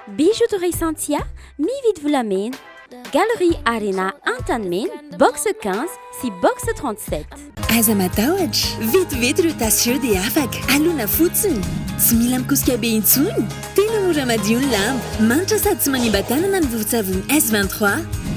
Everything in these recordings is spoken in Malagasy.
Bijoux de Resantia, mividy volamena. Galerie Arena Antanimena, box 15 sy box 37. Aza matahotra, vetivety ireo tasy ireo dia afaka. Alona fotsiny. Tsy mila mikosika be intsony. Tena mora madio ny lamba. Manitra sady tsy manimba tanana ny vovon-tsavony S23.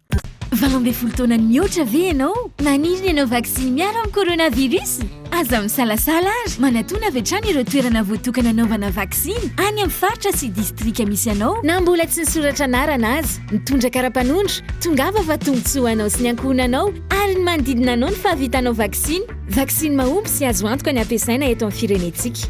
Valo ambin'ny folo taona nihoatra ve ianao? Maniry ny hanao vaksiny miaro amin'ny coronavirus? Aza misalasala ary manatona avy hatrany ireo toerana voatokana hanaovana vaksiny any amin'ny faritra sy distrika misy anao. Na mbola tsy nisoratra anarana aza, mitondra kara-panondro, tongava fa tombontsoa ho anao sy ny ankohonanao ary ny manodidina anao ny fahavitanao vaksiny. Vaksiny mahomby sy azo antoka ny hampiasaina eto amin'ny firenentsika.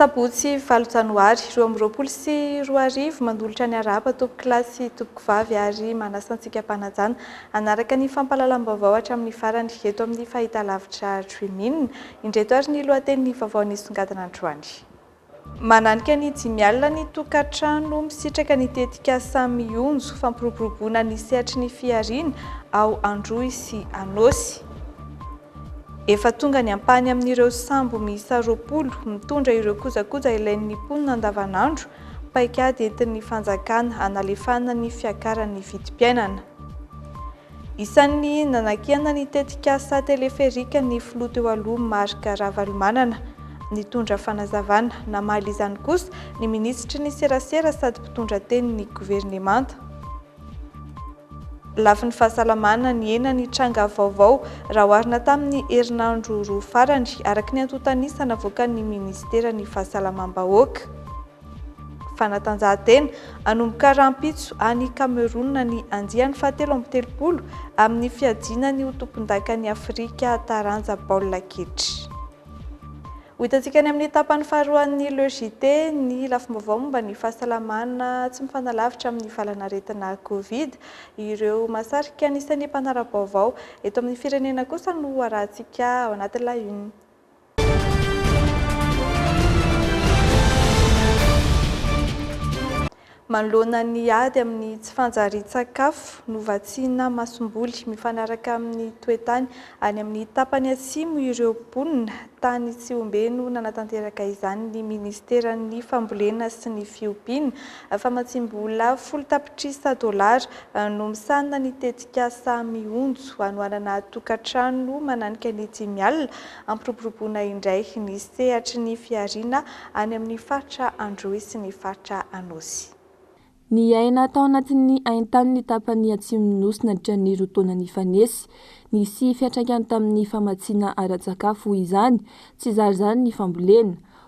Sabotsy valo janoary roa amby roapolo sy roa arivo, manolotra ny harahaba tompokolahy sy tompokovavy ary manasa antsika mpanajana hanaraka ny fampahalalam-baovao hatramin'ny farany eto amin'ny fahitalavitra Dream In. Indreto ary ny lohatenin'ny vaovao nisongadina androany. Mananika ny dimy alina ny tokantrano misitraka ny tetikasa Mionjo, fampiroboroboana ny sehatry ny fihariana ao Androy sy Anôsy. Efa tonga ny ampahany amin'ireo sambo miisa roapolo mitondra ireo kojakoja ilain'ny mponina andavanandro, paikady entin'ny fanjakana hanalefahana ny fiakaran'ny vidim-piainana. Isan'ny nanakiana ny tetikasa teleferika ny filoha teo aloha Marc Ravalomanana. Nitondra fanazavana. Namaly izany kosa ny minisitry ny serasera sady mpitondra tenin'ny governemanta. Lafiny fahasalamana, nihena ny tranga vaovao raha oharina tamin'ny herinandro roa farany, araka ny antontan'isa navoakan'ny minisiteran'ny Fahasalamam-bahoaka. Fanatanjahantena, Hanomboka rahampitso any Kamerona ny andiany fahatelo amby telopolo amin'ny fiadiana ny ho tompondakan'i Afrika taranja baolina kitra. Ho hitantsika any amin'ny tapany faharoan'ny Le JT ny lafim-baovao momba ny fahasalamana tsy mifanalavitra amin'ny valanaretina Covid. Ireo mahasarika anisan'ny mpanara-baovao eto amin'ny firenena kosa no harahantsika ao anaty La Une. Manoloana ny ady amin'ny tsy fanjarian-tsakafo, novatsiana masomboly mifanaraka amin'ny toe-tany any amin'ny tapany atsimo ireo mponina tany Tsihombe no nanatanteraka izany ny minisiteran'ny Fambolena sy ny fiompiana. Famatsiam-bola folo tapitrisa dolara no misahana ny tetikasa Mionjo hanohanana tokantrano mananika ny dimy alina Ampiroboroboana indray ny sehatry ny fihariana any amin'ny faritra Androy sy ny faritra Anôsy. Niaina tao anatin'ny haintany ny tapany atsimon'ny Nosy nandritra ny roa taona nifanesy. Nisy fiantraikany tamin'ny famatsiana ara-tsakafo izany, tsy zary izany ny fambolena.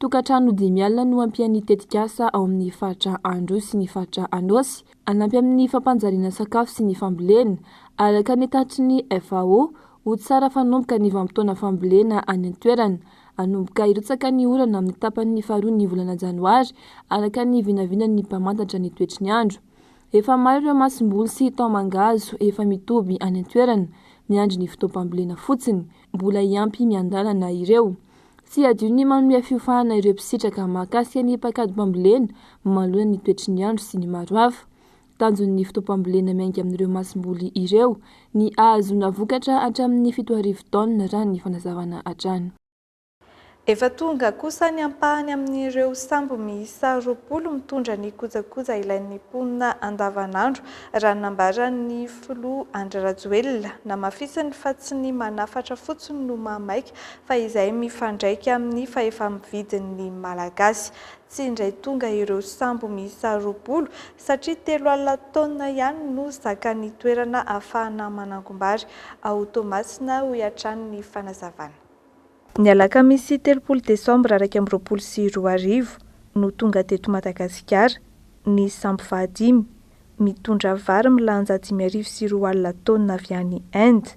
Tokantrano dimy alina no hampian'ny tetikasa ao amin'ny faritra Androy sy ny faritra Anôsy hanampy amin'ny fampanjariana sakafo sy ny fambolena. Araka ny tatitry ny FAO, ho tsara fanomboka ny vanim-potoana fambolena any an-toerana. Hanomboka hirotsaka ny orana amin'ny tapany faharoan'ny volana janoary, araka ny vinavinan'ny mpamantatra ny toetry ny andro. Efa maro ireo masomboly sy taho-mangahazo efa mitoby any an-toerana, miandry ny fotoam-pambolena fotsiny. mbola hiampy miandalana ireo. Tsy hadino ny manome fiofahana ireo mpisitraka mahakasika ny paikadom-pambolena manoloana ny toetry ny andro sy ny maro hafa. Tanjon'ny fotoam-pambolena miainga amin'ireo masomboly ireo ny ahazoana vokatra hatramin'ny fito arivo taonina raha ny fanazavana hatrany. Efa tonga kosa ny ampahany amin'ireo sambo miisa roapolo mitondra ny kojakoja ilain'ny mponina andavanandro, raha ny nambaran'ny filoha Andry Rajoelina. Namafisiny fa tsy ny manafatra fotsiny no mahamaika fa izay mifandraika amin'ny fahefa-mividin'ny Malagasy. Tsy indray tonga ireo sambo miisa roapolo satria telo alina taonina ihany no zakan'ny toerana ahafahana manangom-bary ao Toamasina, hoy hatrany ny fanazavana. Ny alakamisy telopolo desambra iraika amby roapolo sy roa arivo no tonga teto Madagasikara ny sambo fahadimy mitondra vary milanja dimy arivo sy roa alina taonina avy any Inde.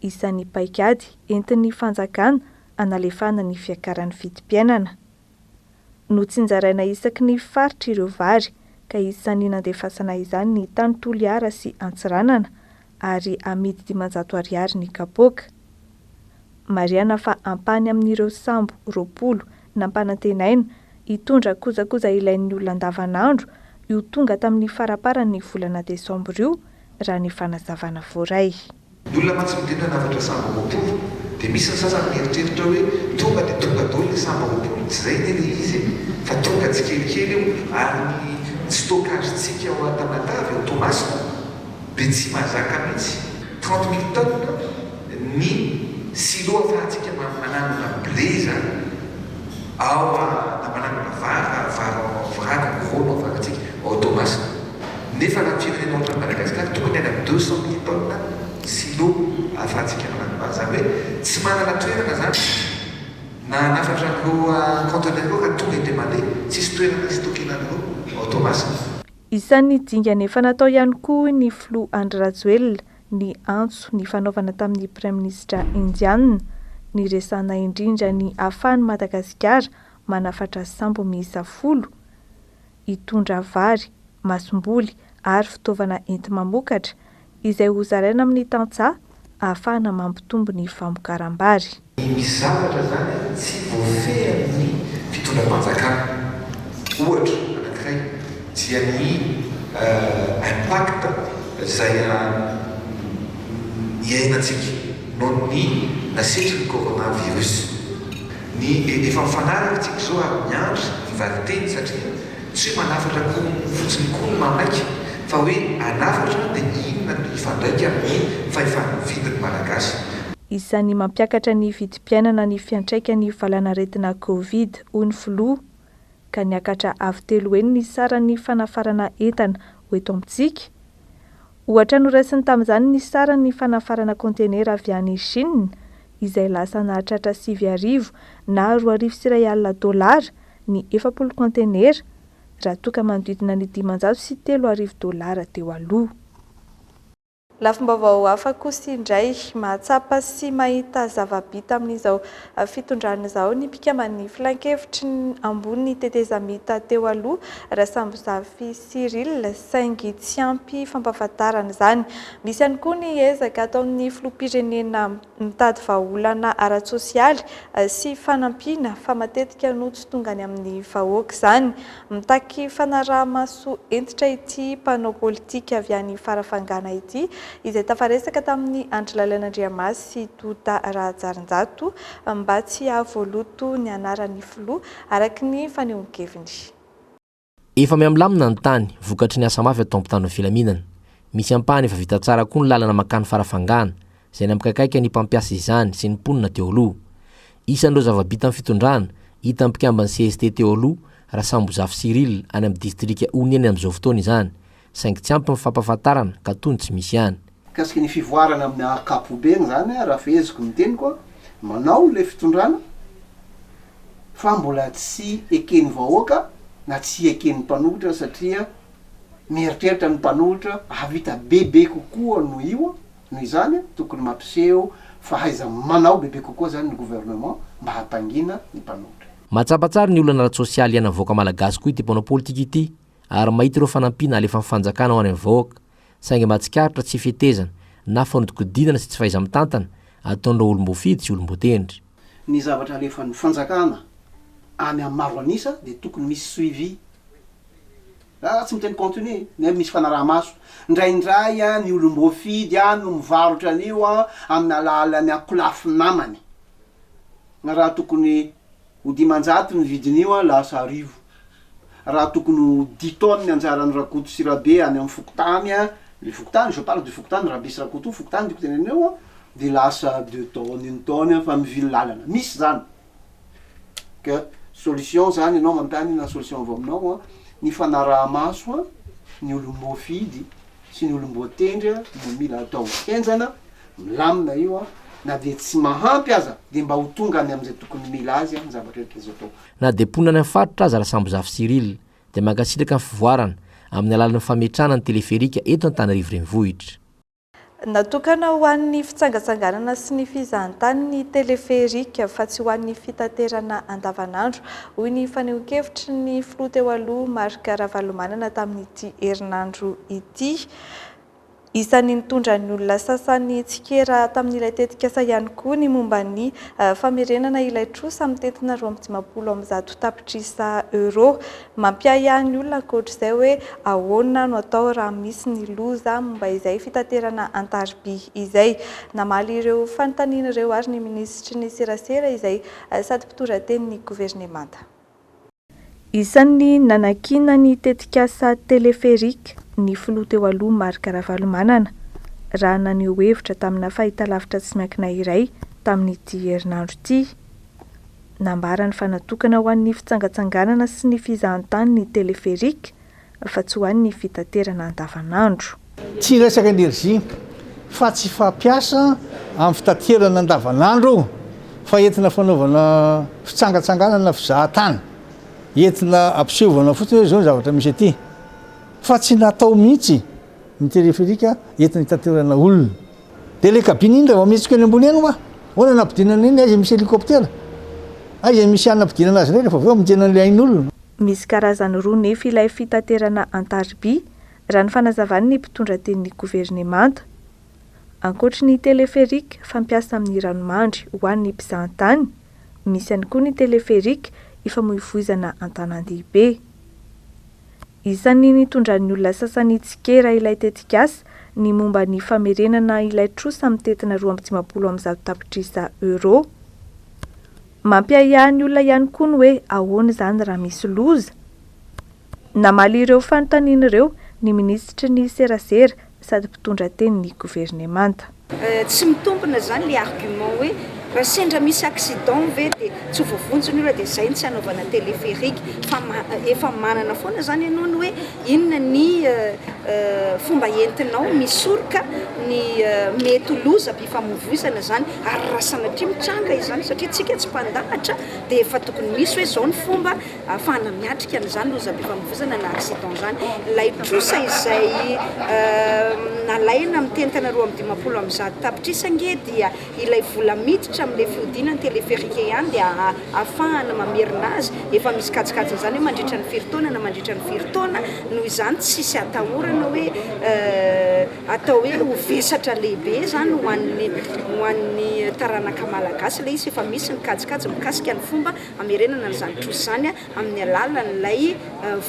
Isan'ny paikady entin'ny fanjakana hanalefahana ny fiakaran'ny vidim-piainana. no tsinjaraina isaky ny faritra ireo vary ka isan'ny nandefasana izany ny tany Toliara sy Antsiranana ary amidy dimanjato ariary ny kapoaka. Marihana fa ampahany amin'ireo sambo roapolo nampanantenaina hitondra kojakoja ilain'ny olona andavanandro io tonga tamin'ny faraparan'ny volana desambra io, raha ny fanazavana voaray. Ny olona mantsy miteny hoe nafatra sahabo roapolo dia misy ny sasany mieritreritra hoe tonga dia tonga daholo ilay sahabo roapolo, tsy izay anie ilay izy e! fa tonga tsikelikely io ary ny ny stockage-ntsika ao Antanatavy, ao Toamasina dia tsy mahazaka mihitsy trente mille tonnes ny silo ahafahantsika mananona blé izany. Ao a, na manangona vary na vary ao Ambohirano, Ambohirao no avanantsika, ao Toamasina. Nefa raha ny firenena ohatran'i Madagasikara, tokony any amin'ny deux cent mille tonnes ny silo ahafahantsika manangona vary. Izany hoe tsy manana toerana izany na hanafatra ny roa conteneurs eo raha tonga dia mandeha. Tsisy toerana histockena ny roa ao Toamasina. Isan'ny dingana efa natao ihany koa hoy ny filoha Andry Rajoelina, ny antso nifanaovana tamin'ny Praiminisitra Indiana niresahana indrindra ny ahafahan'i Madagasikara manafatra sambo miisa folo hitondra vary, masomboly ary fitaovana enti-mamokatra izay hozaraina amin'ny tantsaha ahafahana mampitombo ny famokaram-bary. Misy zavatra izany tsy voafehin'ny fitondram-panjakana. Ohatra anankiray dia ny impact izay iainantsika noho ny nasetrin'ny coronavirus. Ny efa mifanaraka isika izao ary miandry ny valinteny satria tsy hoe manafatra akoho fotsiny koa no maika fa hoe hanafatra dia inona no hifandraika amin'ny fahefa-mividin'ny Malagasy. Isan'ny mampiakatra ny vidim-piainana ny fiantraikan'ny valanaretina Covid, hoy ny filoha, ka niakatra avo telo heny ny saran'ny fanafarana entana ho eto amintsika. Ohatra noraisiny tamin'izany ny saran'ny fanafarana kaontenera avy any Chine, izay lasa nahatratra sivy arivo na roa arivo sy iray alina dolara ny efapolo kaontenera, raha toa ka manodidina ny dimanjato sy telo arivo dolara teo aloha. Lafim-baovao hafa kosa indray, mahatsapa sy mahita zava-bita amin'izao fitondrana izao ny mpikamban'ny Filankevitry ny ambony tetezamita teo aloha, Rasambozafy Cyril, saingy tsy ampy fampahafantarana izany. Misy ihany koa ny ezaka ataon'ny filoham-pirenena. mitady vahaolana ara-tsosialy sy fanampiana fa matetika no tsy tonga any amin'ny vahoaka izany. Mitaky fanaraha-maso hentitra ity mpanao politika avy any Farafangana ity izay tafaresaka tamin'i Andry Lalaina Andriamasy sy Douda Rahajarinjato mba tsy hahavoaloto ny anaran'ny filoha, araka ny fanehoan-keviny. Efa miha-milamina ny tany, vokatry ny asa mafy ataon'ny mpitandro ny filaminana. Misy ampahany efa vita tsara koa ny lalana mankany Farafangana, izay nampikaikaika ny mpampiasa izany sy ny mponina teo aloha. Isan'ireo zava-bitan'ny fitondrana, hitan'ny mpikamban'ny cst teo aloha, Rasambozafy Cyrille, any amin'ny distrika Oniany amin'izao fotoana izany. saingy tsy ampy ny fampafantarana ka toa ny tsy misy ihany. Mikasika ny fivoarana amin'ny ankapobeny izany raha feheziko ny teniko, manao ilay fitondrana fa mbola tsy eken'ny vahoaka na tsy eken'ny mpanohitra satria mieritreritra ny mpanohitra hahavita bebe kokoa noho io, noho izany tokony mampiseho fahaiza-manao bebe kokoa izany ny gouvernement mba hahatangiana ny mpanohitra. Mahatsapa tsara ny olana ara-tsosialy iainan'ny vahoaka malagasy koa ity mpanao politika ity. ary mahita ireo fanampiana alefan'ny fanjakana ho any amin'ny vahoaka, saingy mba tsikaritra tsy fetezana na fanodikodinana sy tsy fahaiza-mitantana ataon'ireo olom-boafidy sy olom-boatendry. Ny zavatra alefan'ny fanjakana any amin'ny maro an'isa dia tokony misy suivi, raha tsy miteny contenu, nefa misy fanaraha-maso. Indraindray an, ny olom-boafidy an no mivarotra an'io an amin'ny alalan'ny ankolafy namany, na raha tokony Ho dimanjato ny vidin'io an, lasa arivo. Raha tokony ho dix tonnes ny anjaran'i Rakoto sy Rabe any amin'ny fokontany an, le fokontany, je parle du fokontany Rabe sy Rakoto io fokontany tiako tenenina io an, dia lasa deux tonnes, une tonne an, fa mivily lalana. Misy izany. Ka solution izany ianao manontany na solution avy aminao an, ny fanaraha-maso an, ny olon'ny mofidy sy ny olom-boatendry no mila atao henjana, milamina io an, na dia tsy mahampy aza dia mba ho tonga any amin'izay tokony mila azy an ny zavatra rehetra azo atao. Na dia mponina any amin'ny faritra aza Rasambozafy Cyrille dia mankasitraka ny fivoarana amin'ny alalan'ny fametrahana ny teleferika eto Antanarivo Renivohitra. Natokana ho an'ny fitsangatsanganana sy ny fizahantany ny teleferika fa tsy ho an'ny fitaterana andavanandro, hoy ny fanehoan-kevitry ny filoha teo aloha Marc Ravalomanana tamin'ny. ity herinandro ity. Isan'ny nitondra ny olona sasany tsikera tamin'ilay tetikasa ihany koa ny momba ny famerenana ilay trosa mitentina roa amby dimampolo amby zato tapitrisa euros. Mampiahiahy ny olona ankoatr'izay hoe ahoana no atao raha misy ny loza momba izay fitaterana an-tariby izay. Namaly ireo fanontaniana ireo ary ny minisitry ny serasera izay sady mpitondra tenin'ny governemanta. Isan'ny nanakiana ny tetikasa Téléphérique ny filoha teo aloha Marc Ravalomanana, raha naneho hevitra tamina fahitalavitra tsy miankina iray tamin'ity herinandro ity. Nambarany fa natokana ho an'ny fitsangatsanganana sy ny fizahantany ny Téléphérique, fa tsy ho an'ny fitaterana andavanandro. Tsy hiresaka energie fa tsy fampiasa amin'ny fitaterana andavanandro io fa entina fanaovana fitsangatsanganana fizahatany, entina ampisehovana fotsiny hoe izao ny zavatra misy aty fa tsy natao mihitsy ny téléphérique entina hitaterana olona. Dia ilay cabine indrindra vao mihetsika eny ambony eny hoa, ahoana no hampidinana eny, aiza misy hélicoptère, aiza misy hanapidinana azy indray rehefa avy eo hamonjena an'ilay ain'olona. Misy karazany roa nefy ilay fitaterana an-tariby, raha ny fanazavan'ny mpitondra tenin'ny governemanta. Ankoatry ny téléphérique fampiasa amin'ny ranomandry ho an'ny mpizahantany, misy ihany koa ny téléphérique ifamoivoizana an-tanàn-dehibe. Isan'ny nitondran'ny olona sasany tsikera ilay tetikasa ny momba ny famerenana ilay trosa mitentina roa amby dimampolo amin'ny zato tapitrisa euros. Mampiahiahy ny olona ihany koa ny hoe ahoana izany raha misy loza? Namaly ireo fanontaniana ireo ny minisitry ny serasera sady mpitondra tenin'ny governemanta. Tsy mitombina izany ilay argument hoe raha sendra misy accident ve dia tsy ho voavonjy ny olona dia izay no tsy hanaovana téléphérique fa efa manana foana izany ianao ny hoe Inona ny fomba entinao misoroka ny mety ho lozam-pifamoivoizana izany ary raha sanatria mitranga izany, satria isika tsy mpandahatra dia efa tokony misy hoe izao ny fomba ahafahana miatrika an'izany lozam-pifamoivoizana na accident izany. Ilay trosa izay nalaina amin'ny teny tana roa amby dimampolo amby zato tapitrisa ange dia ilay vola miditra amin'ilay fihodinan'ny teleferika ihany dia ahafahana mamerina azy, efa misy kajikajiny izany hoe mandritra ny firy taona na mandritra ny firy taona, noho izany tsisy atahorana hoe atao hoe ho vesatra lehibe izany ho an'ny ho an'ny taranaka malagasy ilay izy fa efa misy ny kajikajy mikasika ny fomba hamerenana an'izany trosa izany amin'ny alalan'ilay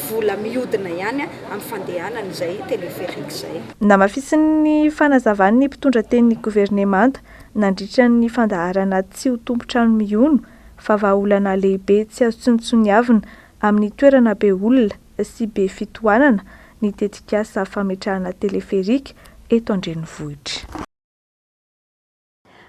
vola mihodina ihany amin'ny fandehanan'izay teleferika izay. Namafisin'ny fanazavany ny mpitondra tenin'ny governemanta nandritra ny fandaharana Tsy ho tompon-trano mihono, fa vahaolana lehibe tsy azo tsinontsiniavina amin'ny toerana be olona sy be fitohanana ny tetikasa fametrahana teleferika eto an-drenivohitra.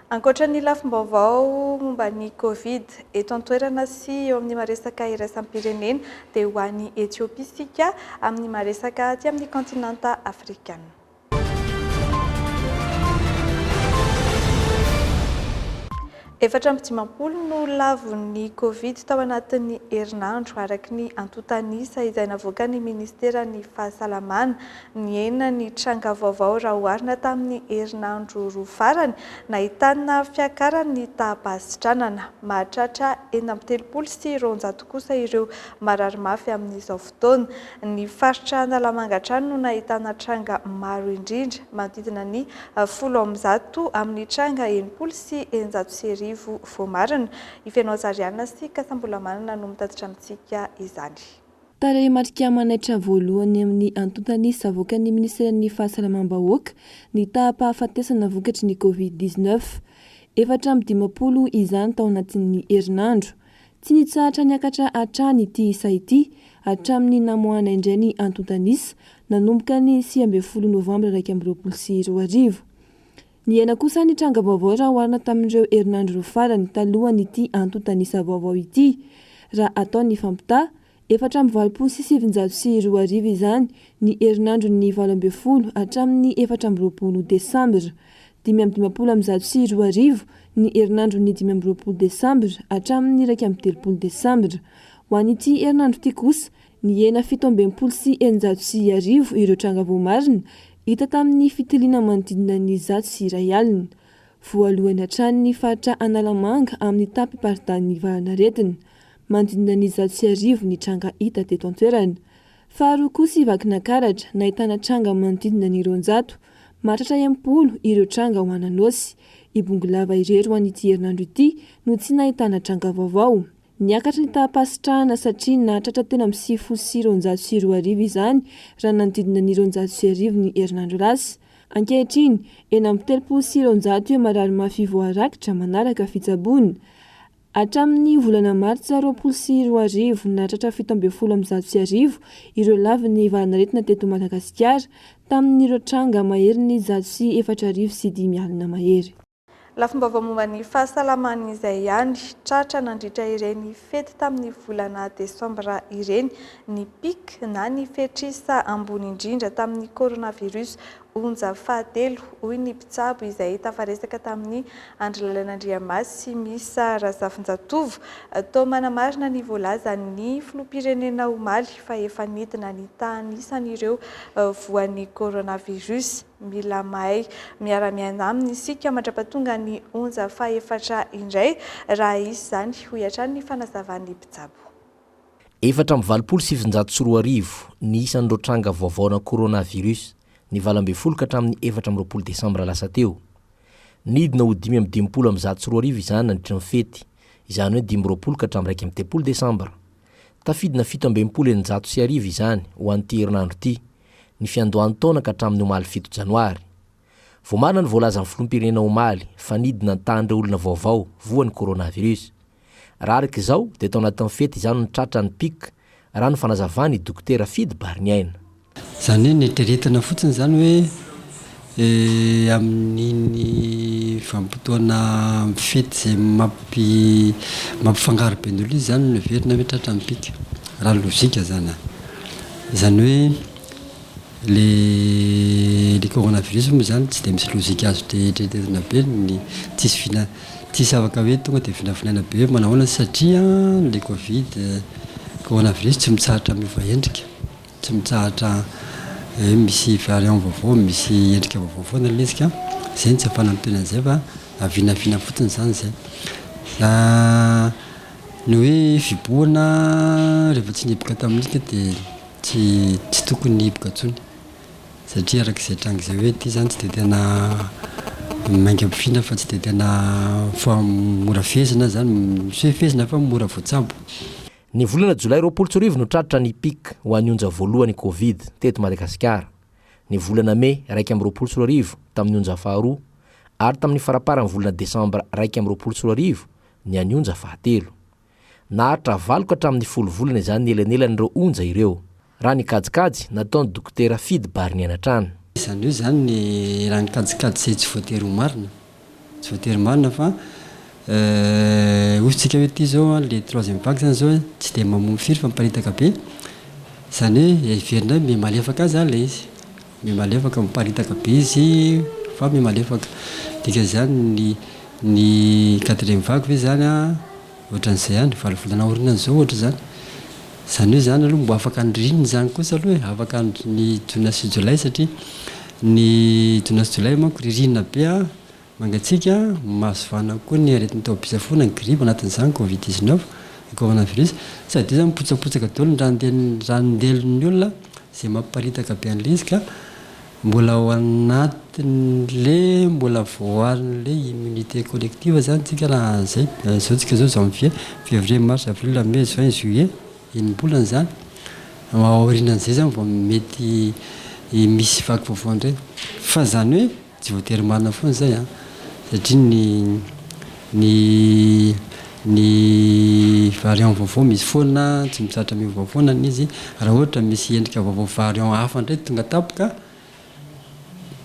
Ankoatra ny lafim-baovao momba ny Covid eto an-toerana sy eo amin'ny maresaka iraisam-pirenena dia ho any Ethiopie isika amin'ny maresaka aty amin'ny kaontinanta afrikana. Efatra amby dimampolo no lavon'ny Covid tao anatin'ny herinandro, araka ny antontan'isa izay navoakan'ny Ministeran'ny Fahasalamana. Nihena ny tranga vaovao raha oharina tamin'ny herinandro roa farany, nahitana fiakaran'ny taha-basitranana. Mahatratra enina amby telopolo sy roanjato kosa ireo marary mafy amin'izao fotoana. Ny faritra Analamanga hatrany no nahitana tranga maro indrindra, manodidina ny folo amby zato amin'ny tranga enimpolo sy eninjato sy arivo voamarina. I Fenohazariana sy Kasambola Manana no mitatitra amintsika izany. Tarehimarika manaitra voalohany amin'ny antontan'ny savokan'ny minisiteran'ny Fahasalamam-bahoaka ny taham-pahafatesana vokatry ny Covid dix neuf. Efatra amby dimampolo izany tao anatin'ny herinandro. Tsy nitsahatra niakatra hatrany ity isa ity hatramin'ny namoahana indray ny antontan'isa nanomboka ny sivy ambin'ny folo novambra iraika amby roapolo sy roa arivo. Nihena kosa ny tranga-baovao raha oharina tamin'ireo herinandro roa farany talohan'ity antontan'isa vaovao ity. Raha atao ny fampitaha, efatra amby valopolo sy sivinjato sy roa arivo izany ny herinandron'ny valo ambin'ny folo hatramin'ny efatra amby roapolo desambra. Dimy amby dimampolo amby zato sy roa arivo ny herinandron'ny dimy amby roapolo desambra hatramin'ny iraika amby telopolo desambra. Ho an'ity herinandro ity kosa, Nihena fito amby enimpolo sy eninjato sy arivo ireo tranga voamarina hita tamin'ny fitiliana manodidina ny zato sy iray alina. Voalohany hatrany ny faritra Analamanga amin'ny tapim-paridanin'ny valanaretina. Manodidina ny zato sy arivo ny tranga hita teto an-toerana. Faharoa kosa i Vakinakaratra nahitana tranga manodidina ny roanjato. Mahatratra enimpolo ireo tranga ao Ananôsy. Ibongolava irery ho an'ity herinandro ity no tsy nahitana tranga vaovao. Niakatra ny taham-pahasitrahana satria nahatratra telo amby sivifolo sy roanjato sy roa arivo izany raha nanodidina ny roanjato sy arivo ny herinandro lasa. Ankehitriny, enina amby telopolo sy roanjato eo marary mafy voarakitra manaraka fitsaboana. Hatramin'ny volana martsa roapolo sy roa arivo, nahatratra fito ambin'ny folo amby zato sy arivo ireo lavin'ny valan'aretina teto Madagasikara, tamin'ireo tranga maherin'ny zato sy efatra arivo sy dimy alina mahery. Lafim-baovao momba ny fahasalamany izay ihany. Tratra nandritra ireny fety tamin'ny volana desambra ireny ny pic na ny fetr'isa ambony indrindra tamin'ny coronavirus onja fahatelo, hoy ny mpitsabo izay tafaresaka tamin'ny Andry Lalana Andriamasy sy Misa Razafinjatovo. Toa manamarina ny voalazan'ny filoham-pirenena omaly fa efa nidina ny tahan'isan'ireo voan'ny coronavirus. Mila mahay miara-miaina aminy isika mandra-pahatonga ny onja fahefatra indray, raha hisy izany, hoy hatrany ny fanazavan'ny mpitsabo. Efatra amby valopolo sy sivinjato sy roa arivo ny isan'ireo tranga vaovaona coronavirus ny valo ambin'ny folo ka hatramin'ny efatra amby roapolo desambra lasa teo. Nidina ho dimy amby dimampolo amby zato sy roa arivo izany nandritra ny fety, izany hoe dimy roapolo ka hatramin'ny iraika amby telopolo desambra. Tafidina fito amby enimpolo eninjato sy arivo izany ho an'ity herinandro ity. ny fiandohan'ny taona ka hatramin'ny omaly fito janoary. Vao marina ny voalazan'ny filoham-pirenena omaly fa nidina ny tahan'ireo olona vaovao voa ny coronavirus. Raha araka izao dia tao anatin'ny fety izao no tratra ny pic, raha ny fanazavan'ny dokotera Fidy Bariniaina. Izany hoe neritreretina fotsiny izany hoe. Amin'iny vanim-potoana mifidy izay mampifangaro be ny olona iny izany no heverina hoe tratra ny mpika, raha ny lojika izany an! Izany hoe ilay coronavirus moa izany tsy dia misy lojika azo eritreretina be, ny tsisy vina, tsisy afaka hoe tonga dia vinavinaina be hoe manahoana satria ilay covid, coronavirus tsy mitsahatra miova endrika. Tsy mitsahatra hoe misy variant vaovao, misy endrika vaovao foana ilay izy ka izay no tsy ampanantena an'izay fa vinavina fotsiny izany izay. Fa ny hoe fibohana rehefa tsy nihiboka tamin'iny dia tsy tsy tokony hihiboka intsony satria araka izay tranga izay hoe ity izany tsy dia tena mainka ampofoina fa tsy dia tena mora fehezina izany, tsy hoe fehezina fa mora voatsabo. Ny volana jolay roapolo sy roa arivo no tratra ny pic ho an'ny onja voalohany covid teto Madagasikara, ny volana mey iraika amby roapolo sy roa arivo tamin'ny onja faharoa ary tamin'ny faraparan'ny volana desambra iraika amby roapolo sy roa arivo ny an'ny onja fahatelo. Naharitra valo ka hatramin'ny folo volana izany ny elanelan'ireo onja ireo. Raha ny kajikajy nataon'i Dokotera Fidy Barinianatrana. Izany hoe izany ny raha ny kajikajy izay tsy voatery ho marina, tsy voatery marina fa hosotsika hoe ity izao an, ilay troisième vague izany izao tsy dia mamono firy fa miparitaka be, izany hoe heverina hoe miha malefaka aza ilay izy. Mihamalefaka, miparitaka be izy fa mihamalefaka. Dikan'izany ny ny quatrième vague ve izany an, ohatran'izay ihany, valo volana aorianan'izao izao ohatra izany. Izany hoe izany aloha mbo afaka ny ririnina izany kosa aloha e, afaka ny jona sy jolay satria ny jona sy jolay manko ririnina be an. Mangatsiaka, mahasivana koa ny aretin'ny taobi-pisafoana, ny gripa, anatin'izany covid dix neuf, ny coronavirus. Tsy adino izany mipotsapotsaka daholo ny ranondelin'ny ranondelin'ny olona, izay mampiparitaka be an'ilay izy ka mbola ao anatin'le mbola voarin'le immunité collective izany tsika raha izay. Izao tsika izao janvier, février, mars, avril, mai, juin, juillet, enim-bolana izany. Aorianan'izay izany vao mety misy vaky vaovao indray. Fa izany hoe. Tsy voatery marina foana izay an! Satria ny ny ny variant vaovao misy foana, tsy mizatra miova foana ny izy. Raha ohatra misy endrika vaovao variant hafa indray tonga tampoka,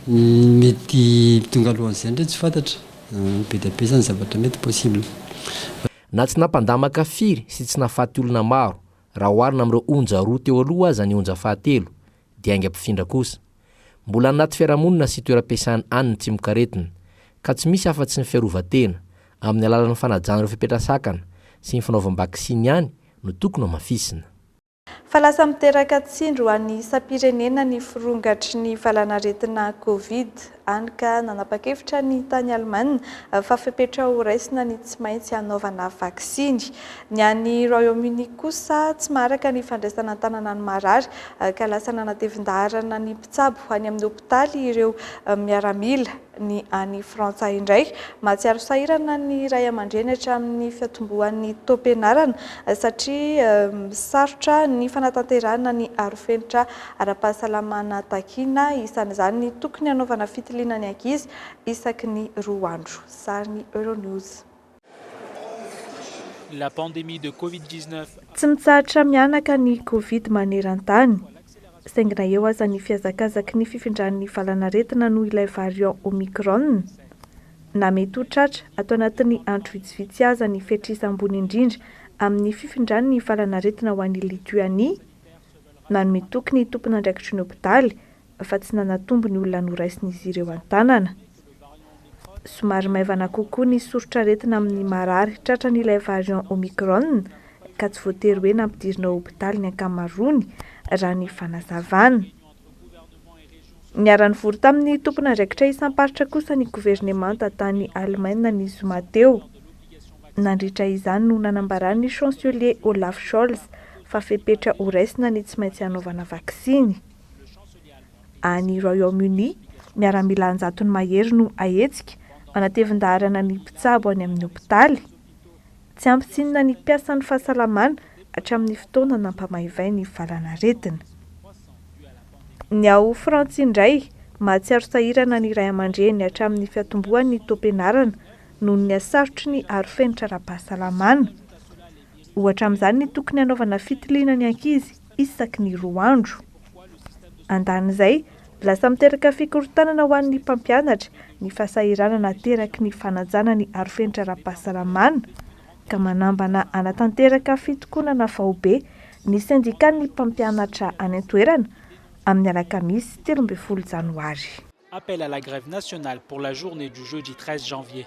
ny mety tonga alohan'izay indray tsy fantatra. Be dia be izany zavatra mety possible. Na tsy nampandamaka firy sy tsy nahafaty olona maro, raha oharina amin'ireo onja roa teo aloha aza ny onja fahatelo, dia aingam-pifindra kosa. Mbola anaty fiarahamonina sy toeram-piasana any ny tsimokaretina, ka tsy misy afa-tsy ny fiarovan-tena, amin'ny alalan'ny fanajana ireo fepetra sakana sy ny fanaovam-baksiny ihany no tokony hamafisina. Fa lasa miteraka tsindry ho an'ny isam-pirenena ny firongatry ny valanaretina Covid, hany ka nanapa-kevitra ny tany Alemana fa fepetra ho raisina ny tsy maintsy hanaovana vaksiny. Ny any Royaume-Uni kosa tsy maharaka ny fandraisana an-tanana ny marary ka lasa nanatevin-daharana ny mpitsabo any amin'ny hopitaly ireo miaramila. Ny any Frantsa indray, mahatsiaro sahirana ny ray aman-dreny hatramin'ny fiatombohan'ny taom-pianarana satria sarotra ny fanatanterahana ny arofenitra ara-pahasalamana takiana, isan'izany ny tokony hanaovana fitiliana ny ankizy isaky ny roa andro. Sarin'i Euronews. La pandémie de Covid dix-neuf a. Tsy mitsahatra mihanaka ny Covid maneran-tany, saingy na eo aza ny fihazakazaky ny fifindran'ny valan'aretina noho ilay variant Omicron, na mety ho tratra ato anatin'ny andro vitsivitsy aza ny fetr'isa ambony indrindra amin'ny fifindran'ny valan'aretina ho an'i Lituanie, Nanome toky ny tompon'andraikitry ny hopitaly fa tsy nanatombo ny olona noraisin'izy ireo an-tanana. Somary maivana kokoa ny soritr'aretina amin'ny marary tratran'ilay variant Omicron ka tsy voatery hoe nampidirina ao hopitaly ny ankamaroany, raha ny fanazavana. Niara-nivory tamin'ny tompon'andraikitra isam-paritra kosa ny governemanta tany Alemaina ny zoma teo. Nandritra izany no nanambaran'ny Chancelier Olaf Scholz fa fepetra ho raisina ny tsy maintsy hanaovana vaksiny. Any Royaume-Uni, miaramila an-jatony mahery no hahetsika, manatevin-daharana ny mpitsabo any amin'ny hopitaly. Tsy ampy tsinona ny mpiasan'ny fahasalamana hatramin'ny fotoana nampamaivay ny valan'aretina. Ny ao Frantsa indray, mahatsiaro sahirana ny ray aman-dreny hatramin'ny fiatombohan'ny taom-pianarana noho ny hasarotry ny arofenitra ara-pahasalamana. Ohatra amin'izany ny tokony hanaovana fitiliana ny ankizy. isaky ny roa andro. Andanin'izay, lasa miteraka fikorontanana ho an'ny mpampianatra ny fahasahiranana ateraky ny fanajana ny arofenitra ara-pahasalamana, ka manambana hanatanteraka fitokonana faobe ny sendikan'ny mpampianatra any an-toerana amin'ny alakamisy telo ambin'ny folo janoary. Appel à la grève nationale pour la journée du jeudi treize janvier.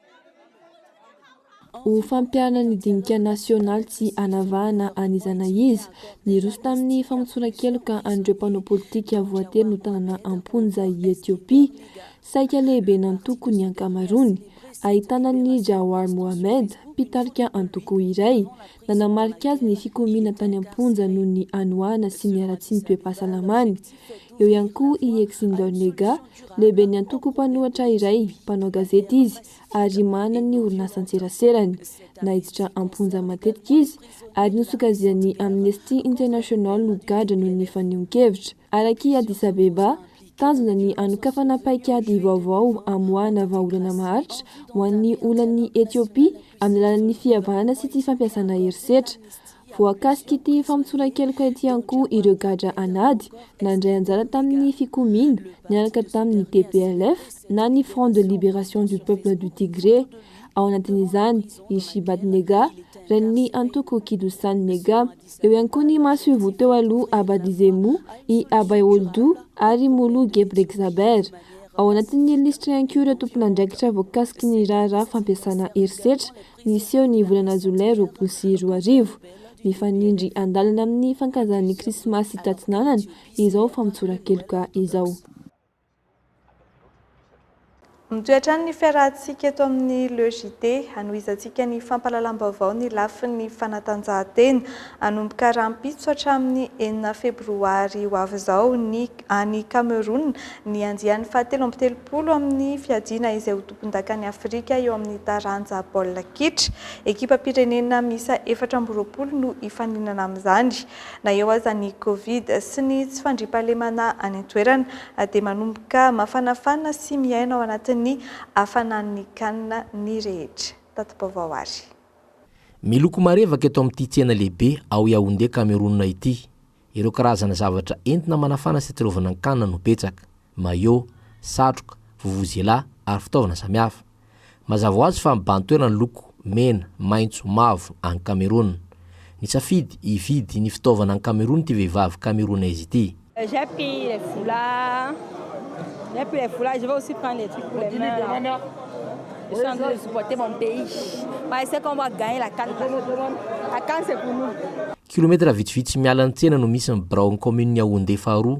Ho fampiharana ny dinika nasionaly tsy hanavahana an'iza na iza, niroso tamin'ny famotsoran-keloka an'ireo mpanao politika voatery notanana am-ponja i Etiopia, saika lehiben'ny antoko ny ankamaroany, ahitana an'i Jawar Mohammed, mpitarika antoko iray, Nanamarika azy ny fikomiana tany am-ponja noho ny hanoanana sy ny haratsian'ny toe-pahasalamany. Eo ihany koa i Exindor Nega, lehiben'ny antoko mpanohatra iray, mpanao gazety izy ary manana ny orinasan-tseraserany. Naiditra am-ponja matetika izy ary nosokajian'ny Amnesty International ho gadra noho ny fanehoan-kevitra. Araka i Addis Abeba, tanjona ny hanokafana paikady vaovao hamoahana vahaolana maharitra ho an'ny olan'i Etiopia amin'ny alalan'ny fihavanana sy tsy fampiasana herisetra. Voakasik'ity famotsoran-keloka ity ihany koa ireo gadra an'ady nandray anjara tamin'ny fikomiana niaraka tamin'ny TPLF na ny Front de Liberation du Peuple du Tigré, ao anatin'izany i Shibat Nega, renin'ny antoko Kidussan Nega. Eo ihany koa ny masoivoho teo aloha Abba Dizemu, i Abay Oldu ary i Mulu Gebregzaber. Ao anatin'ny lisitra ihany koa ireo tompon'andraikitra voakasiky ny raharaha fampiasana herisetra niseho ny volana jolay roapolo sy roa arivo. Mifanindry an-dalana amin'ny fankazan'ny Krismasy tatsinanana izao famotsoran-keloka izao. Mitohy hatrany ny fiarahantsika eto amin'ny Le JT. Hanohizantsika ny fampahalalam-baovao ny lafiny fanatanjahantena. Hanomboka rahampitso hatramin'ny enina febroary ho avy izao ny any Kamerona ny andiany fahatelo amby telopolo amin'ny fiadiana izay ho tompondakan'i Afrika eo amin'ny taranja baolina kitra. Ekipam-pirenena miisa efatra amby roapolo no hifaninana amin'izany. Na eo aza ny Covid sy ny tsy fandriampahalemana any an-toerana dia manomboka mafanafana sy miaina ao anatin'ny hafanan'ny canne ny rehetra. Tati-baovao ary. Miloko marevaka eto amin'ity tsena lehibe ao Yaoundé Kamerona ity. Ireo karazana zavatra entina manafana sy atsilovana ny canne no betsaka. maillot, satroka, vuvuzela ary fitaovana samihafa. Mazava ho azy fa mibahan-toerana ny loko mena, maitso, mavo any Kamerona. Nisafidy hividy ny fitaovana any Kamerona ity vehivavy Kameronaise ity. Kilometatra vitsivitsy miala ny tsena no misy ny biraon'ny kaominin'i Yaoundé faharoa,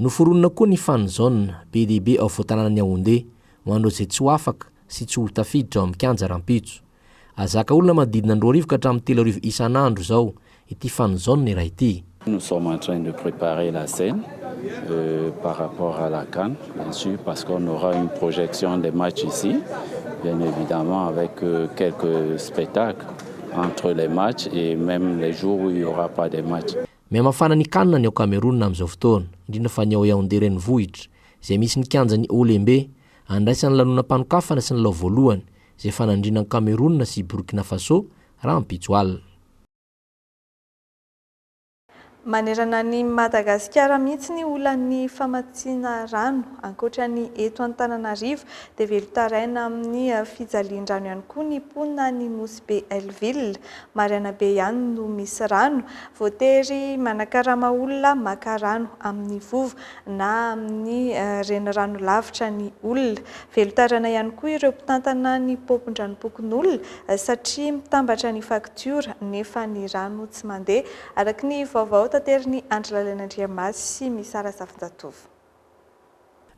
Noforonina koa ny Fan Zone be dia be ao Voatanànan'i Yaoundé ho an'ireo izay tsy ho afaka sy tsy ho tafiditra ao amin'ny kianja rahampitso. Azo zaka olona manodidina ny roa arivo ka hatramin'ny telo arivo isan'andro izao ity Fan Zone iray ity. Nous sommes en train de preparer la scène par rapport à la can bien sur parce qu'on aura une projection des matchs ici bien evidemment avec quelques spectacles entre les matchs et meme les jours où il n'y aura pas des matchs. Mihamafana ny can ny ao Cameroun amin'izao fotoana, indrindra fa ny ao Yaoundé renivohitra, izay misy ny kianjan'ny Olembe. Andraisan'ny lanonam-panokafana sy ny lalao voalohany, izay fanandriana an'i Cameroun sy i Burkina Faso, rahampitso alina. Manerana an'i Madagasikara mihitsy ny olan'ny famatsiana rano. Ankoatra ny eto Antananarivo dia velon-taraina amin'ny fijalian-drano ihany koa ny mponina any Nosy Be Hellville. Maraina be ihany no misy rano. Voatery manakarama olona maka rano amin'ny vovo na amin'ny renirano lavitra ny olona. Velon-tàrana ihany koa ireo mpitantana ny paompin-dranom-pokonolona satria mitambatra ny faktiora nefa ny rano tsy mandeha, araka ny vaovao taterin'i Andry Lalainandriamasy sy Misara Safinjatovo.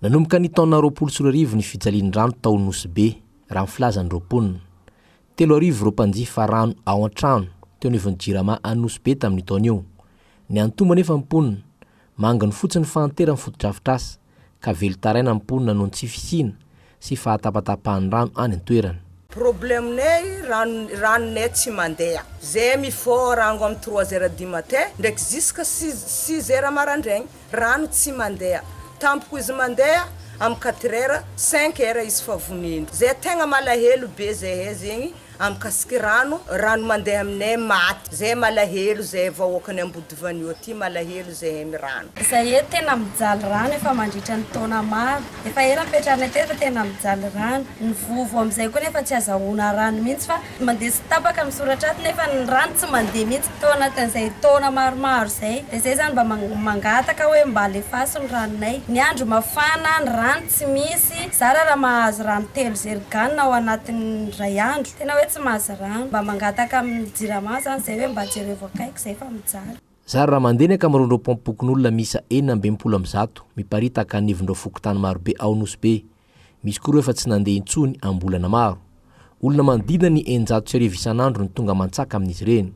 Nanomboka ny taona roapolo sy roa arivo ny fijalian'ny rano tao Nosy Be, raha ny filazan'ireo mponina. Telo arivo ireo mpanjifa rano ao an-trano teo anivon'ny Jirama any Nosy Be tamin'io taona io. Niantombo anefa ny mponina. Manginy fotsiny ny fahanteran'ny fotodrafitrasa. ka velon-taraina ny mponina noho ny tsy fisiana sy fahatapatapahan'ny rano any an-toerana. Problème nay rano rano nay tsy mandeha zay mifoha rango am trois heures du matin ndraiky jusque six six heures marandraigny rano tsy mandeha tampoko izy mandeha am quatre heures cinq heures izy fa voneno zay tegna malahelo be zahay zegny Amkasik rano, rano mandeha aminay maty zay malahelo zay vahoakan'i Ambodivanio aty malahelo zahem rano. Zay eto tena mijaly rano efa mandritra ny taona maro. Efa ela nipetrahanay teo efa tena mijaly rano. Ny vovo amzay koa nefa tsy azahoana rano mihitsy fa mandeha sy tapaka ny soratra ato nefa ny rano tsy mandeha mihitsy tao anatin'izay taona maromaro zay. De zay zany mba mangataka hoe mba alefaso ny ranonay. Ny andro mafana ny rano Tsy misy zara raha mahazo rano telo zerigan ao anatin'ny iray andro. Tena hoe tsy mahazo rano. Mba mangataka amin'ny jirama zany zay hoe mba jerevo akaiky zay fa mijaly. Zara raha mandenaka amin'ireo ndreo paompokon'olona miisa enina amby enimpolo amin'ny zato miparitaka anivon'ireo fokontany marobe ao Nosy Be. Misy koa ireo efa tsy nandeha intsony am-bolana maro. Olona manodidina ny eninjato sy arivo isan'andro no tonga aman-tsaka amin'izy ireny.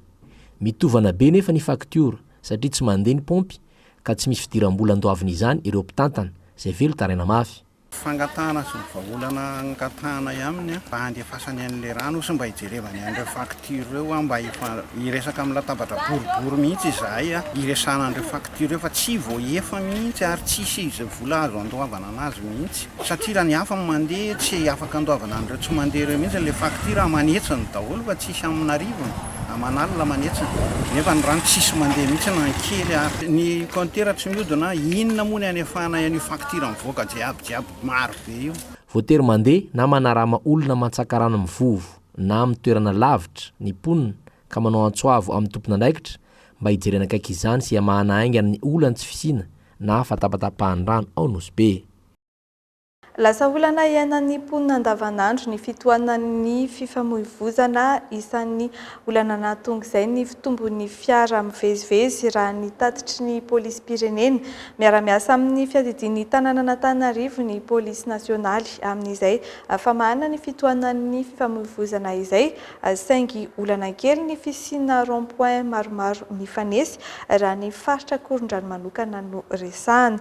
Mitovana be nefa ny faktiora satria tsy mandeha ny paompy ka tsy misy fidiram-bola andoaviny izany ireo mpitantana, izay velon-taraina mafy. Fangatahana sy ny vahaolana angatahana aminy mba handefasany an'ilay rano sy mba hijerevany an'ireo facture ireo an, mba hiresaka amin'ny latabatra boribory mihitsy izahay hiresahana an'ireo facture ireo fa tsy voaefa mihitsy ary tsisy izay vola azo andoavana an'azy mihitsy satria raha ny hafa no mandeha tsy afaka andoavana an'ireo tsy mandeha ireo mihitsy ilay facture aman'hetsiny daholo fa tsisy amin'arivony. Aman' alina manetsa nefa ny rano tsisy mandeha mihitsy na ny kely ary. Ny compteur tsy miodina, inona moa ny hanefahana an' io faktiora mivoaka jiaby jiaby maro be io. Voatery mandeha na manarama olona mantsaka rano mivovo na amin'ny toerana lavitra ny mponina ka manao antso avo amin'ny tompon' andraikitra mba hijerena akaiky izany sy hamahana haingana ny olan'ny tsy fisiana na fatapatapahan-drano ao Nosy Be. Lasa olana iainan'ny mponina andavanandro ny fitohanan'ny fifamoivozana. Isan'ny olana nahatonga izay ny fitombon'ny fiara mivezivezy, raha ny tatitry ny polisim-pirenena. Miara-miasa amin'ny fiadidian'ny tanànan'Antananarivo ny polisy nasionaly amin'izay famahana ny fitohanan'ny fifamoivozana izay, saingy olana kely ny fisiana rond point maromaro mifanesy, raha ny faritra Akorondrano manokana no resahana.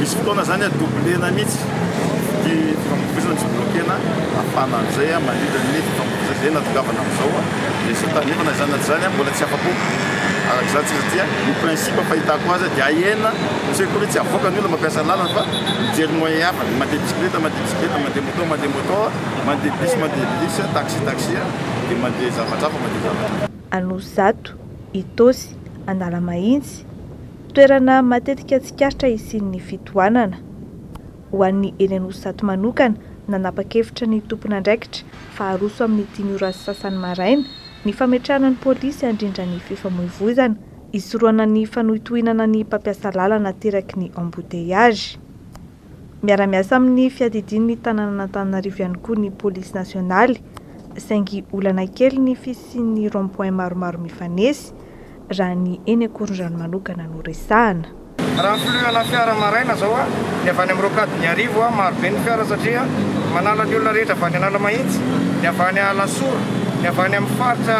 Misy fotoana izany a doublena mihitsy ity fifamoivoizana ny jiolahokena afana an'izay a mandritra ny fifamoivoizana izay natongavana amin'izao a dia tsy tandrefana izany na tsy izany a mbola tsy afa-po araka izany tsy satria ny principe fahitako azy a dia ahena satria koa ve tsy avoaka ny olona mampiasa lalana fa mijery moyen hafa dia mandeha bisikileta mandeha bisikileta mandeha moto mandeha moto mandeha bus mandeha bus a taxi taxi a dia mandeha zavatra hafa mandeha zavatra Anosizato, Itaosy, Analamahitsy. Toerana matetika tsikaritra hisian'ny fitohanana. Ho an'ny eny Anosizato manokana, nanapa-kevitra ny tompon'andraikitra fa haroso amin'ny dimy ora sy sasany maraina ny fametrahana ny polisy handrindra ny fifamoivoizana, hisorohana ny fanohintohinana ny mpampiasa lalana ateraky ny embouteillages. Miara-miasa amin'ny fiadidian'ny tanànan'Antananarivo ihany koa ny polisy nasionaly, saingy olana kely ny fisian'ny rond point maromaro mifanesy, raha ny eny Ankorondrano manokana no resahana. Raha plus ana fiara maraina zao a, ny avy any am rocade ny arivo a, maro be ny fiara satria manala ny olona rehetra avy any Analamahitsy, ny avy any Alasora, ny avy any am faritra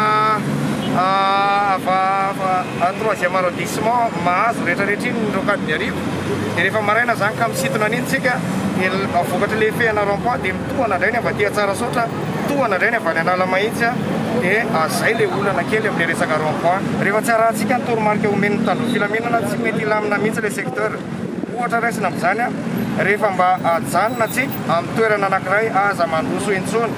ava troisième arrondissement mahazo rehetra rehetra iny ny rocade ny arivo. Dia rehefa maraina zany ka misintona an'iny tsika dia vokatry le fehana rond point dia mitohana indray ny avy aty Antsarasaotra, mitohana indray ny avy any Analamahitsy a, dia zay le olana kely amle resaka rond point. Rehefa tsy arahantsika ny toromarika omen'ny mpitandron'ny filaminana tsy mety hilamina mihitsy le secteur. Ohatra raisina amin'izany a, rehefa mba ajanona tsika amin'ny toerana anakiray aza mandroso intsony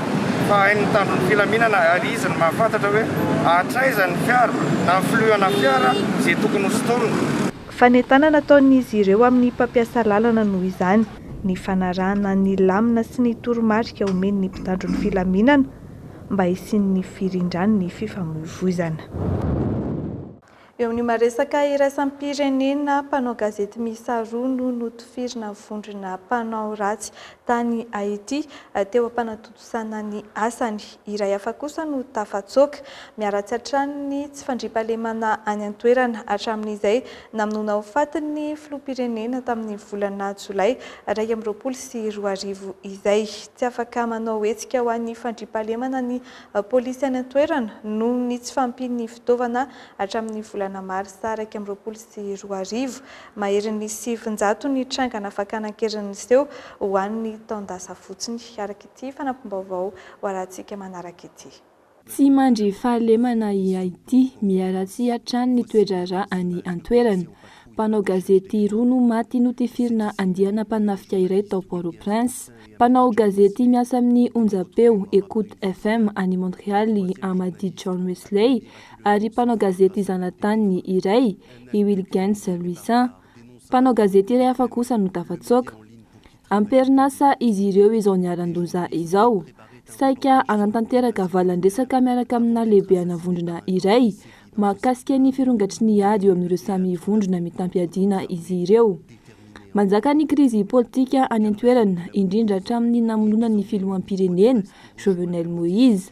fa hain'ny mpitandron'ny filaminana ary izy no mahafantatra hoe hatraiza ny fiara na filohana fiara ze tokony ho sintomina. Fanentanana ataon'izy ireo amin'ny mpampiasa lalana noho izany ny fanarahana ny lamina sy ny toromarika omen'ny mpitandro ny filaminana mba hisian'ny firindran'ny fifamoivoizana. Eo amin'ny maresaka iraisam-pirenena, mpanao gazety miisa roa no notifirina vondrona mpanao ratsy tany Haiti, teo am-panatodiana. Nandosana ny asany. Iray hafa kosa no tafatsoaka. Miharatsy hatrany ny tsy fandriampahalemana any an-toerana. Hatramin'izay namonoana ho faty ny filoham-pirenena tamin'ny volana jolay iraika amby roapolo sy roa arivo izay, tsy afaka manao hetsika ho an'ny fandriampahalemana ny polisy any an-toerana noho ny tsy fahampian'ny fitaovana hatramin'ny volana marsa iraika amby roapolo sy roa arivo. Maherin'ny sivin-jato ny trangana fakana an-keriny niseho ho an'ny taon-dasa fotsiny, araka ity fanampim-baovao hoarahantsika manaraka ity. Tsy mandry fahalemana i Haiti, miharatsy hatrany ny toe-draharaha any an-toerana. Mpanao gazety roa no maty notifirina andiana mpanafika iray tao Port-au-Prince. Mpanao gazety miasa amin'ny onjam-peo Ecoute FM any Montréal i Hamady John Wesley ary mpanao gazety zanataniny iray, i Wilgens Louissaint, mpanao gazety iray hafa kosa no tafatsoaka. Am-perinasa izy ireo izao niharan-doza izao. Saika hanatanteraka valan-dresaka miaraka amina lehibehana vondrona iray mahakasika ny firongatry ny ady eo amin'ireo samy vondrona mitam-piadiana izy ireo. Manjaka ny krizy politika any an-toerana, indrindra hatramin'ny namonoana ny filoham-pirenena Jovenel Moïse.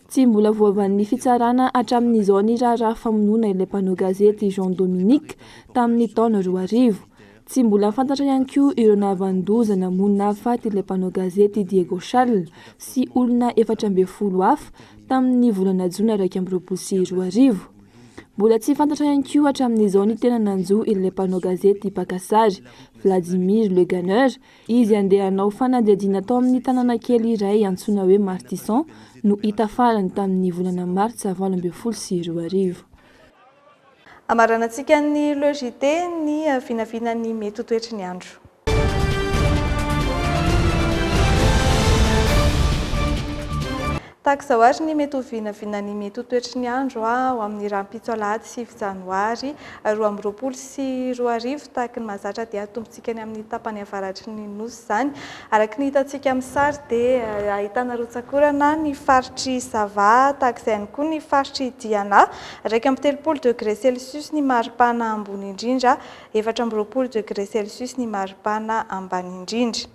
Tsy mbola voavalin'ny fitsarana hatramin'izao ny raharaha famonoana ilay mpanao gazety Jean Dominique tamin'ny taona roa arivo. Tsy mbola fantatra ihany koa ireo nahavanon-doza namono nahafaty ilay mpanao gazety Diego Charles sy olona efatra ambin'ny folo hafa tamin'ny volana jona iraika amby roapolo sy roa arivo. Mbola tsy fantatra ihany koa hatramin'izao ny tena nanjo ilay mpanao gazety mpaka sary Vladimir Leganer Izy handeha hanao fanadihadiana tao amin'ny tanàna kely iray antsoina hoe Martison no hita farany tamin'ny volana Martsa valo ambin'ny folo sy roa arivo. Hamaranantsika ny Le JT ny vinavina ny mety ho toetry ny andro. Tahaka izao àry ny mety ho vinavinan'ny mety ho toetry ny andro ho amin'ny rahampitso alahady sivy janoary roa amby roapolo sy roa arivo, tahaka ny mahazatra dia atombotsika any amin'ny tapany avaratry ny Nosy izany. Araka ny hitantsika amin'ny sary dia ahitana rotsak'orana ny faritr'i Sava, tahaka izay ihany koa ny faritr'i Diana, iraika amby telopolo degré celsius ny maripana ambony indrindra, efatra amby roapolo degré celsius ny maripana ambany indrindra.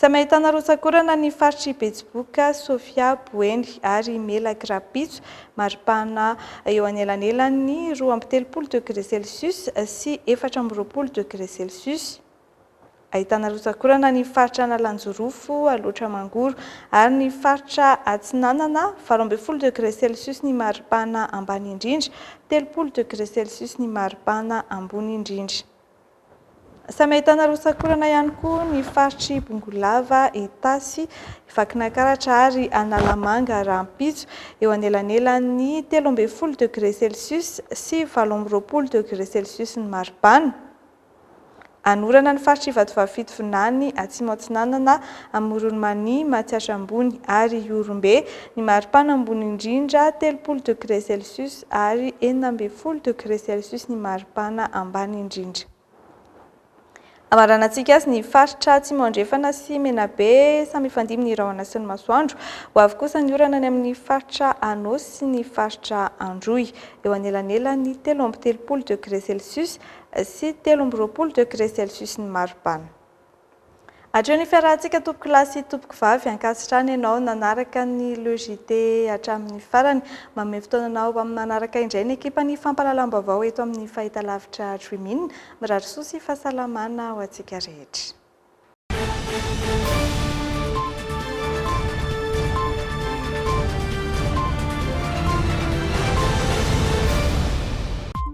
Samy ahitana rotsak'orana ny faritr'i Betsiboka, Sofia, Boeny ary Melaky rahampitso. Mari-pahana eo anelanelan'ny roa amby telopolo degre celsius sy efatra amby roapolo degre celsius. Ahitana rotsak'orana ny faritra Analanjorofo, Alaotra Mangoro ary ny faritra Atsinanana, valo ambin'ny folo degre celsius ny mari-pahana ambany indrindra, telopolo degre celsius ny mari-pahana ambony indrindra. Samy ahitana rotsak'orana ihany koa ny faritr'i Bongolava, Itasy, Vakinankaratra ary Analamanga rahampitso, eo anelanelan'ny telo ambin'ny folo degré celsius sy valo amby roapolo degré celsius ny maripana. Anorana ny faritr'i Vatovavy-Fito Vinany, Atsimo Atsinanana, Amoron'i Mania, Matsiatra Ambony ary Ihorombe, ny maripana ambony indrindra, telopolo degré celsius. Ary enina ambin'ny folo degre celsius ny maripana ambany indrindra. Hamaranantsika azy ny faritra Atsimo Andrefana sy Menabe, samy hifandimby ny rahona sy ny masoandro. Ho avy kosa ny orana any amin'ny faritra Anôsy sy ny faritra Androy, eo anelanelan'ny telo amby telopolo degre celsius sy telo amby roapolo degre celsius ny maripana. Hatreo ny fiarahantsika tompoko lahy sy tompoko vavy, ankasitrahana ianao nanaraka ny Le JT hatramin'ny farany. Manome fotoana anao ho amin'ny manaraka indray ny ekipan'ny fampahalalam-baovao eto amin'ny fahitalavitra Dream-in. Mirary soa sy fahasalamana ho antsika rehetra.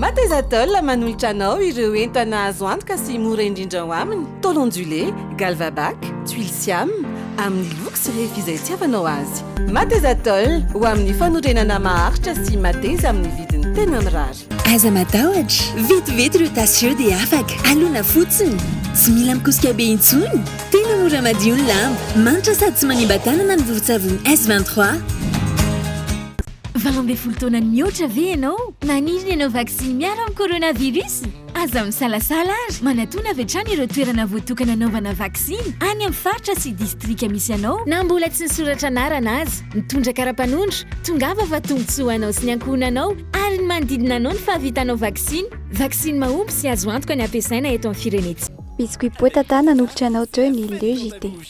Mateza Tôle manolotra anao ireo entana azo antoka sy mora indrindra ao aminy, tôle ondulé, galvabac, tuiles siam, amin'ny loko sy refy izay itiavanao azy. Mateza Tôle, ho amin'ny fanorenana maharitra sy mateza amin'ny vidiny tena mirary. Aza matahotra, vetivety ireo tasy ireo dia afaka. Alona fotsiny. Tsy mila mikosika be intsony. Tena mora madio ny lamba. Manitra sady tsy manimba tanana ny vovon-tsavony S23. Valo ambin'ny folo taona mihoatra ve ianao? Maniry ny hanao vaksiny miaro amin'ny coronavirus? Aza misalasala ary manatona avy hatrany ireo toerana voatokana hanaovana vaksiny any amin'ny faritra sy distrika misy anao. Na mbola tsy nisoratra anarana aza, mitondra kara-panondro, tongava fa tombontsoa ho anao sy ny ankohonanao ary ny manodidina anao ny fahavitanao vaksiny. Vaksiny mahomby sy azo antoka ny hampiasaina eto amin'ny firenentsika. Biscuit Poa Tata nanolotra anao teo ny Le JT.